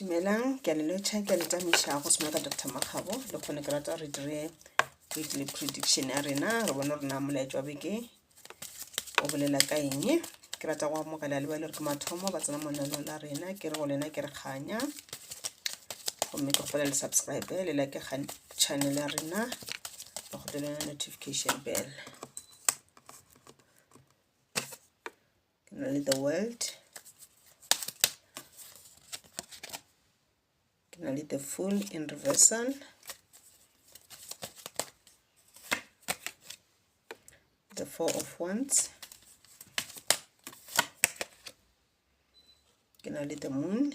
Dumelang, ke a le lotšha, ke a le tamiša go swana ka Dr. Makgabo. Le kgone ke rata re dire weekly prediction ya rena, re bone rena molaetša wa beke o bolela ka eng. Ke rata go amogela le ba le re ke mathomo ba tsena mo lenaneo la rena, ke re go lena ke re kganya. Gomme ke kgopela le subscribe le like ga channel ya rena, le kgopela notification bell. ke na le the world ke na le the full in reversal the four of wands ke na le the moon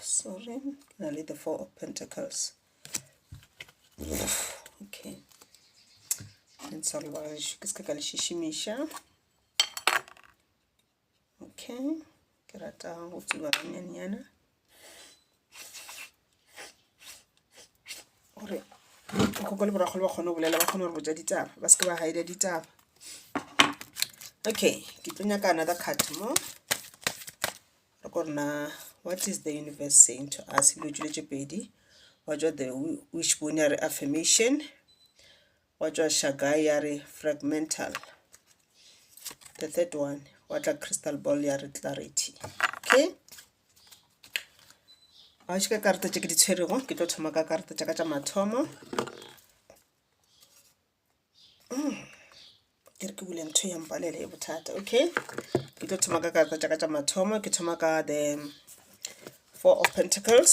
sorry na le the four of pentacles okay ntsha lebagaešo ke se ka ka le šišimiša okay ke rata go tsuba ganyaneyana gore koko le borakgolo ba kgone go bolela ba kgone gore botsa ditaba ba seke ba hide ditaba okay ke tlo nyaka another card mo re ko rena what is the universe saying to us dilo tšwile tše pedi wa jwa the wishbone ya re affirmation Wa tšwa Shagai ya re fragmental. The third one, wa tla crystal ball ya re clarity. Okay? Ga o šeka karata tše ke di tshwerego, ke tlo thoma ka karata tša ka tša mathomo. Mm. ke re ke bule ntho ya mpalele e bothata okay ke tlo thoma ka karata tša ka tša mathomo ke thoma ka the four of pentacles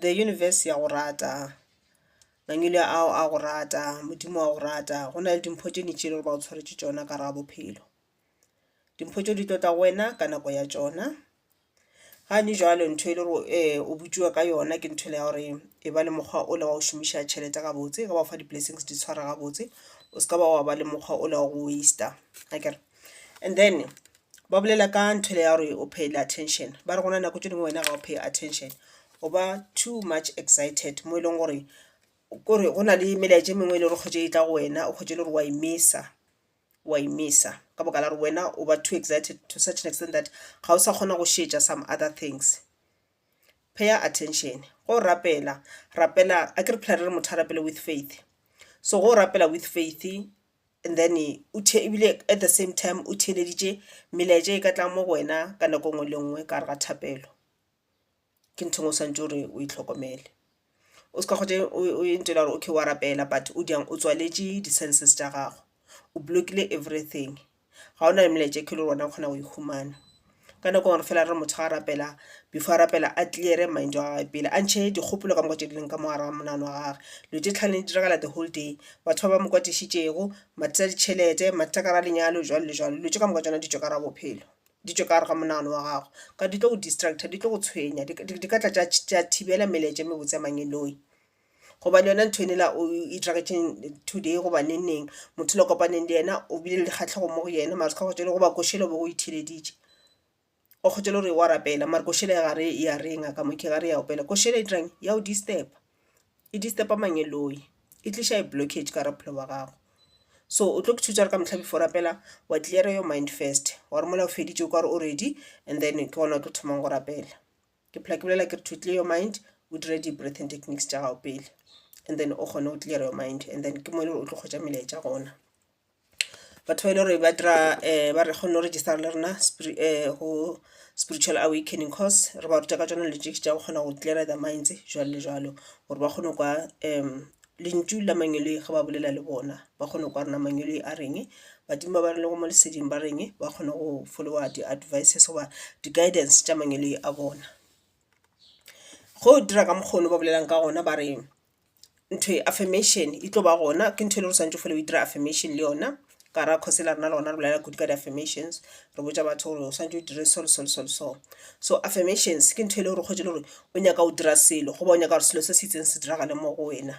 The universe ya go rata, mangwele ao a go rata, Modimo wa go rata. Go na le dimpho tše ntši tše e le gore ba go tshwaretše tšona ka gare ga bophelo. Dimpho tšeo di tlo tla go wena ka nako ya tšona. Gane jwale ntho e le gore um o botšiwa ka yona ke ntho e le ya gore e ba le mokgwa o le wa go šomiša tšhelete gabotse, ge ba go fa di-blessings di tshwara gabotse. O se ka ba wa ba le mokgwa o le wa go waste-a akere. And then ba bolela ka ntho ya gore o pay attention ba re gona nako tše dingwe wena ga o pay attention o ba too much excited mo e leng gore kore go na le melaetša e mengwe e le gore kgwetše e tla go wena o kgwetše le gore wa imisa wa imisa ka boka la gore wena o ba too excited to such an extent that ga o sa kgona go šetša some other things pay attention go rapela rapela a ke re phela re re motho a rapele with faith so go rapela with faith And then ebile at the same time o theeleditše melaetša e ka tlang mo go wena ka nako nngwe le nngwe ka gare ga thapelo ke ntho ngwe o swantse gore o e tlhokomele o se ka kgotse o e ntšwela gore okay wa rapela but o diang o tswaletše di-senses tša gago o blockile everything ga o na le melaetša e kelo gona o kgona go e humana Ka nako engwe re fela re re motho ga a rapela, before a rapela a clear-e mind wa gagwe pele, a ntšhe dikgopolo ka moka tše di leng ka mo gare ga monagano wa gagwe. Dilo tše tlhano di diragala the whole day, batho ba ba mo kwatišitšego, mathata a ditšhelete, mathata ka gare ga lenyalo jwalo le jwalo. Dilo tše ka moka tšona di tšwe ka gare ga bophelo, di tšwe ka gare ga monagano wa gago ka gore di tlo go distractor, di tlo go tshwenya, di ka tla tša thibela melaetša e mebotse ya mang-e-noyi. gobane yona ntho ene la o iragetšeng today goba neng neng motho le kopaneng le yena o bile le dikgatlhego mo go yena mara ska kgotšele goba košele o be o itheleditše o kgotšele gore wa rapela mare košele ya gare ya reng a ka mo ke gare ya opela košele e dirang ya o disturba e disturba mangeloi e tliša e blockage ka gare bophelo ba gago so o tlo ke thusa re ka motlha before rapela wa clear your mind first wa re mola o feditše o ka re o ready and then ke gona o tlo thomang go rapela ke phela ke bolela ke re to clear your mind o dire di-breathing techniques tša gago pele and then o kgone o clear your mind and then ke mo e le gore o tlo kgwetsa melaetša gona batho ba e le gore ba dira um ba re kgone go register le rena um go spiritual awakening course re ba ruta ka tsona lejeki tša go kgona go clear the minds jalo le jalo gore ba kgone kwa um Lentšu la mangweloi ge ba bolela le bona ba kgona kwa rena mangweloi a reng, badimo ba ba re lego mo leseding ba reng ba kgona go follower di advices goba di guidance tša mangweloi a bona. Go dira ka mokgo ne ba bolelang ka gona ba re ntho e affirmation e tlo ba gona ke ntho e le gore swantše o fele o e dira affirmation le yona. Ka ra cause la rena le gona re bolela kudu ka di affirmations re botša batho gore o swantse o dire so le so le so le so so affirmations ke ntho e le gore kgwetše le gore o nyaka o dira selo goba o nyaka gore selo se se itseng se diragale mo go wena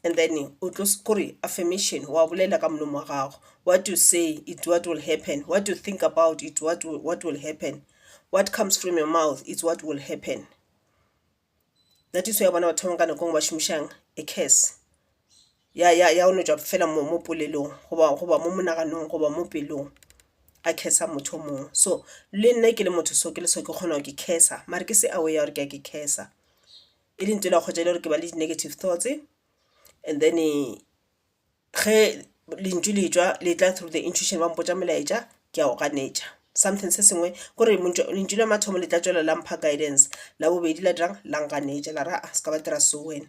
and then o tlo kore affirmation wa bolela ka molomo wa gago what you say it what will happen what you think about it what will, what will happen what comes from your mouth it's what will happen that is why wa bona batho ba bangwe ka nako ngwe ba šomišang a curse ya ya ya oletšwa fela mo mo polelong goba goba mo monaganong goba mo pelong a curse motho o mongwe so le nna ke le motho so ke le so ke kgona gore ke curse mare ke se aware ya gore ke a ke curse e le ntho e la kgotsa e le gore ke ba le di-negative thoughts and then Ge lentšu le tšwa le tla through the intuition ba mpotša molaetša ke a o ganetša. Something se sengwe ke gore lentšu la mathomo le tla tšwela la mpha guidance, la bobedi la dirang la nganetša la re aa se ka ba dira so wena.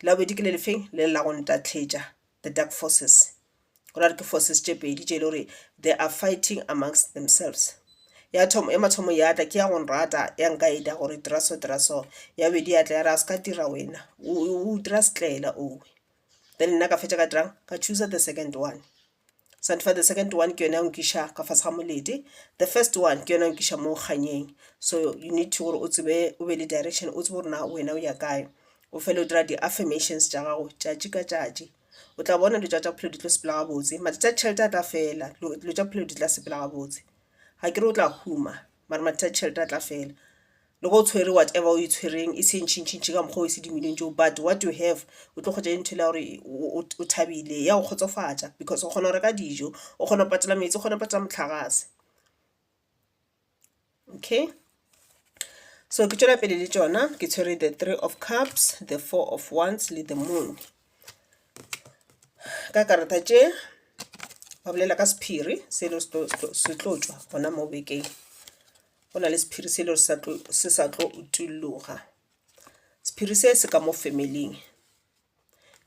La bobedi ke le le feng? Lele la go ntatletša, the dark forces. Go ra gore ke forces tše pedi tše e le gore they are fighting amongst themselves. Ya thoma, ya mathomo ya tla ke ya go nrata ya nkaeda gore dira so dira so, ya bobedi ya tla ya re a se ka dira wena o dira setlaela owe. then nna ka fetša ka dirang ka chooser the second one santifa the second one ke yone ya nkiša ka fase ga molete the first one ke yone ya nkiša mo kganyeng so you need to gore o tsebe o be le direction o tsebe gore na wena o ya kae o fele o dira di-affirmations tša gago tšatši ka tšatši o tla bona dilo tša tša bophelo di tlo sepela gabotse mathata a tšhelete a tla fela dilo tša bophelo di tla sepela gabotse ga ke re o tla huma mara mathata a tšhelete a tla fela Le ge o tshwere whatever o e tshwereng e se ntšhintšhintšhi ka mokgwa o e sedimileng tšo but what you have o tlo kgwetša e ntho e le ya gore o o thabile ya go kgotsofatša because o kgona go reka dijo, o kgona go patala metsi, o kgona go patala mohlagase. Okay so ke tšwela pele le tšona ke tshwere the three of cups, the four of wands le the moon. Ka karata tše ba bolela ka sephiri se le se tlo tšwa gona mo bekeng go na le sephiri se le se sa tlo utulloga sephiri se se ka mo familing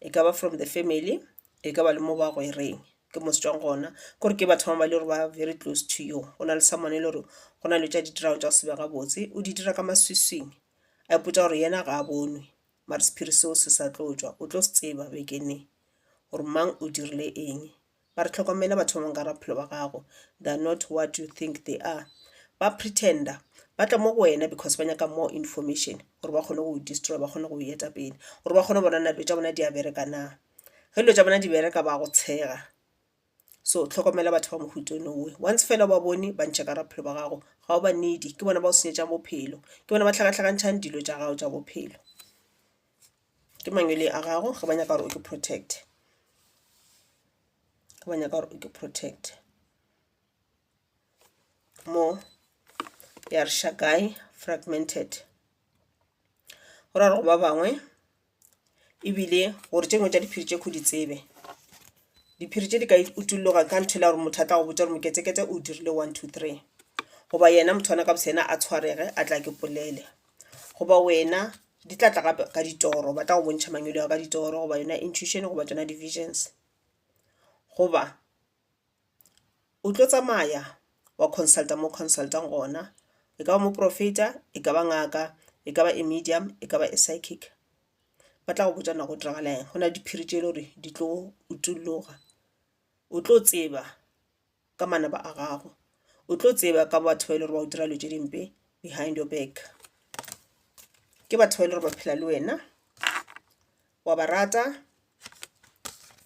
e ka ba from the family e ka ba le mo ba go e reng ke mo se tswang gona kore ke batho ba ba le gore ba very close to you go na le someone e le gore go na le tša ditirago tša go sebe gabotse o di dira ka maswiswing a ipotsa gore yena ga a bonwe mare sephiri seo se sa tlo tswa o tlo se tseba bekene gore mang o dirile eng Mare hlokomela batho ba bangwe ka gare ga bophelo ba gago, they are not what you think they are. Ba pretender, ba tla mo go wena because ba nyaka more information gore ba kgone go go destroyer, ba kgone go go eta pele gore ba kgone go bona na dilo tša bona di a bereka na. Ge dilo tša bona di bereka ba go tshega, so hlokomela batho ba mohuta o nowe. Once fela o ba bone ba ntšhe ka gare ga bophelo ba gago ga o ba need-e, ke bona ba go senyetšang bophelo, ke bona ba hlakahlakantšhang dilo tša gago tša bophelo. ke mangwele a gago ge ba nyaka gore o ke protect ge ba nyaka gore o ke protect mo ya re shakae fragmented go ra gore go ba bangwe ebile gore tše ngwe tša diphiri tše kho di tsebe diphiri tše di ka utulloga ka ntho e la gore motho a tla go botsa gore moketseketse o dirile one two three goba yena motho wana ka bosena a tshwarege a tla ke polele goba wena di tla tla gape ka ditoro ba tla go bontšha mangwele ao ka ditoro goba yona intuition goba tsona di-visions goba o tlo tsamaya wa consulta mo consultang gona e ka ba moporofeta e ka ba ngaka e ka ba e medium e ka ba e psychic ba tla go botša nago diragala eng go na le diphiri tše e le gore di tlo utolloga o tlo tseba ka manaba a gago o tlo tseba ka batho ba e le gore ba o dira dilo tše dimpe behind your back ke batho ba e le gore ba phela le wena wa ba rata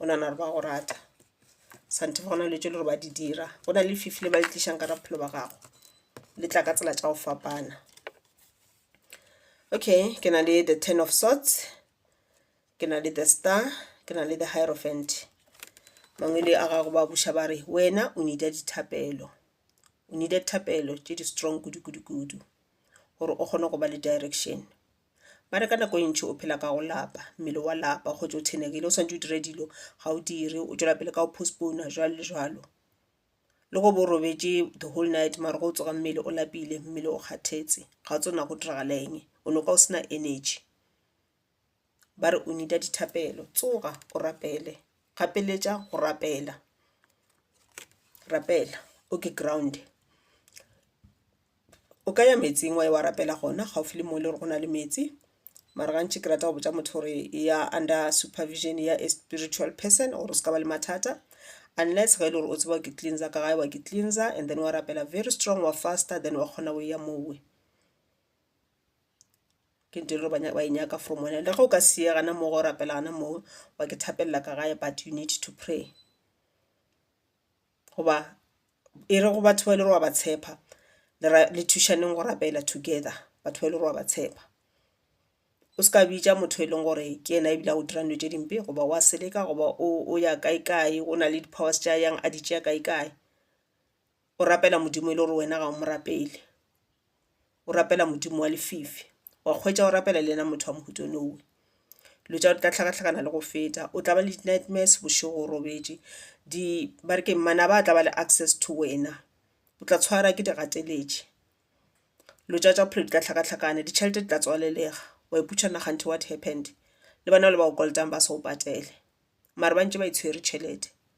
o nana gore ba go rata santhe go na le tše le gore ba di dira go na le fifi le ba le tlišang ka bophelo ba gago le tla ka tsela tša go fapana okay ke na le the ten of sorts Ke na le the star, ke na le the hierophant. Mangwele a gago ba buša ba re, wena o nida dithapelo. O nida thapelo tše di strong kudu kudu kudu gore o kgone go ba le direction. Ba re ka nako e ntši o phela ka go lapa, mmele wa lapa, go tšwa o thenegile, o swantše o dire dilo, ga o dire, o tšwela pele ka go postpona, jwalo le jwalo. Le go bo robetše the whole night mara go tsoga mmele o lapile, mmele o kgathetse, ga o tsebe na go diragala eng, o noka o sena energy. ba re o need-a dithapelo tsoga o rapele gapeletša go rapela rapela o ke ground-e o ka ya meetseng wa ya wa rapela gona gaufi le mo e le gore go na le meetse mara gantši ke rata go botša motho gore eya under supervision ya a spiritual person gore o se ka ba le mathata unless ge e le gore o tseba ke cleanser ka gae wa ke cleanser and then wa rapela very strong wa fasta then wa kgona go eya mowe. ke ntho e le gore ba e nyaka from wena le ge o ka se ye gana moo go rapela gana moo wa ke thapelela ka gae but you need to pray goba e re go batho ba e le gore wa ba tshepa le thušaneng go rapela together batho ba e le gore wa ba tshepa o se ka bitša motho e leng gore ke ena ebile a go dira dilo tše dimpe goba wa seleka goba o ya kae kae o na le di powers tša yang a di tšea kae kae. o rapela modimo e le gore wena ga o mo rapele o rapela modimo wa lefifi wa kgwetša o rapela le yena motho wa mohuta o nowe dilo tša tla hlakahlakana le go feta o tla ba le di-nightmares bošego o robetše di ba re ke manaba a tla ba le access to wena o tla tshwara ke digateletše dilo tša tša bophelo di tla hlakahlakana ditšhelete di tla tswalelega wa iputša naga ntho what happened le bana bale ba go kolotang ba se go patele mare ba ntše ba itshwere tšhelete.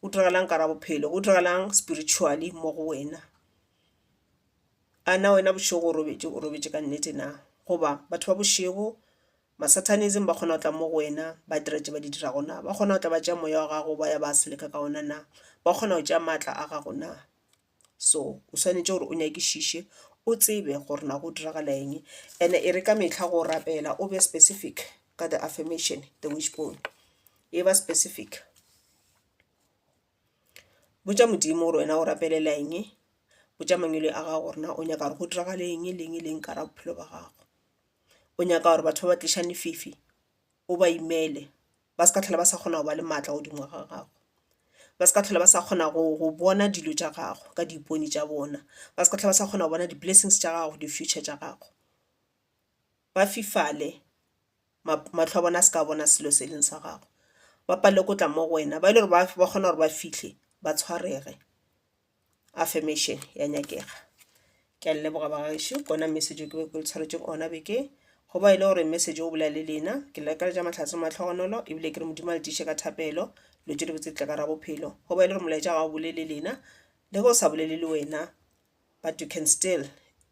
Go diragalang ka ra bophelo? Go diragalang spiritually mo go wena? A na wena bošego o robetše o robetše ka nnete na? Goba batho ba bošego ma-Satanism ba kgona go tla mo go wena ba dira tše ba di dirago na? Ba kgona go tla ba tšea moya wa gago ba ya ba seleka ka ona na? Ba kgona go tšea maatla a gago na? So o swanetše gore o nyakišiše o tsebe gore na go diragala eng and e re ka mehla go rapela o be specific ka the affirmation the wishbone e ba specific. Botša Modimo gore wena o rapelela eng, botša mangwele a gago gore na o nyaka gore go diragale eng le eng le eng ka gare ga bophelo bja gago. O nyaka gore batho ba ba tlišang lefifi o ba imele, ba se ka tlhola ba sa kgona go ba le maatla godimo ga gago, ba se ka tlhola ba sa kgona go bona dilo tša gago ka diipone tša bona, ba se ka tlhola ba sa kgona go bona di-blessings tša gago, di-future tša gago. Ba fifale, mahlo a bona a se ka bona selo se e leng sa gago, ba palelwe ke go tla mo go wena, ba e le gore ba kgona gore ba fihle ba tshwarege. affirmation ya nyakega ke a leboga ba gaešo kona message ke be ke le tshwaretšeng ona be ke go ba e le gore message o bolela le lena ke le ka ja matlhatse matlhogonolo ebile ke re modimo a le tiše ka thapelo lo tšwele botse tle ka ra bophelo go ba e le gore molaetša ga o bolele lena le go sa bolele le wena but you can still